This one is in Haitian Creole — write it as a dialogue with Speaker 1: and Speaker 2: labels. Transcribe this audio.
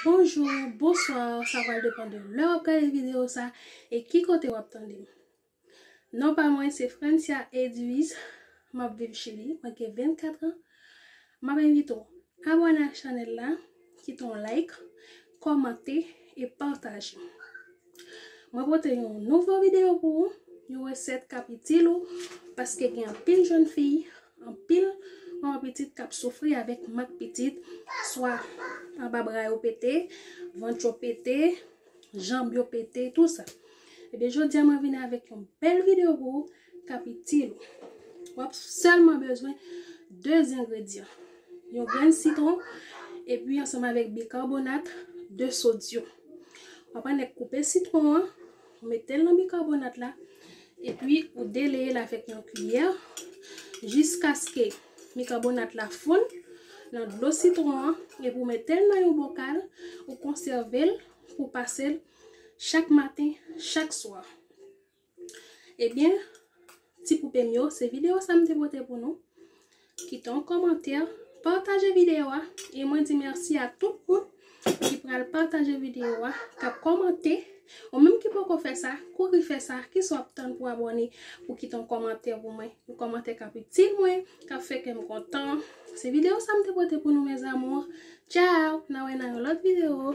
Speaker 1: Bonjou, bonswa, sa pral depan de lè wap gade videyo sa e ki kote wap tande m. Non pa mwen se Francia Edwise, map viv Chili, mwen gen 24 an. Map envite w abòne ak chanèl la, kite yon like, kòmante e pataje. Mwen pote yon nouvo video pou ou, yon resèt kap itil ou, paske gen anpil jèn fi, anpil manman pitit kap soufri avèk mank pitit, swa anba bra yo pete, vant yo pete, janb yo pete, tout sa. Ebyen jodi a mwen vini avèk yon bèl video pou ou. k ap itil ou. W ap sèlman bezwen 2 engredyan, yon grenn sitwon epi ansanm avèk bikarbonat de sodyòm. W ap annik koupe sitwon an, ou mete l nan bikarbonat la epi ou deleye l avèk yon kiyè jiskaske bikarbonat la fonn nan dlo sitwon an epi ou mete l nan yon bokal ou konsève l pou pase l chak maten, chak swa. Ebyen ti poupem yo se video sa m te pote pou nou kite yon kòmantè pataje video a e mwen di mèsi a tout moun ki pral pataje video a kap kòmante ou menm ki poko fè sa kouri fè sa kisa wap tann pou abòne pou kite yon kòmantè pou mwen yon kòmantè kap itil mwen kap fè kèm kontan se video sa m te pote pou nou mes amours ciao na wè nan yon lòt video.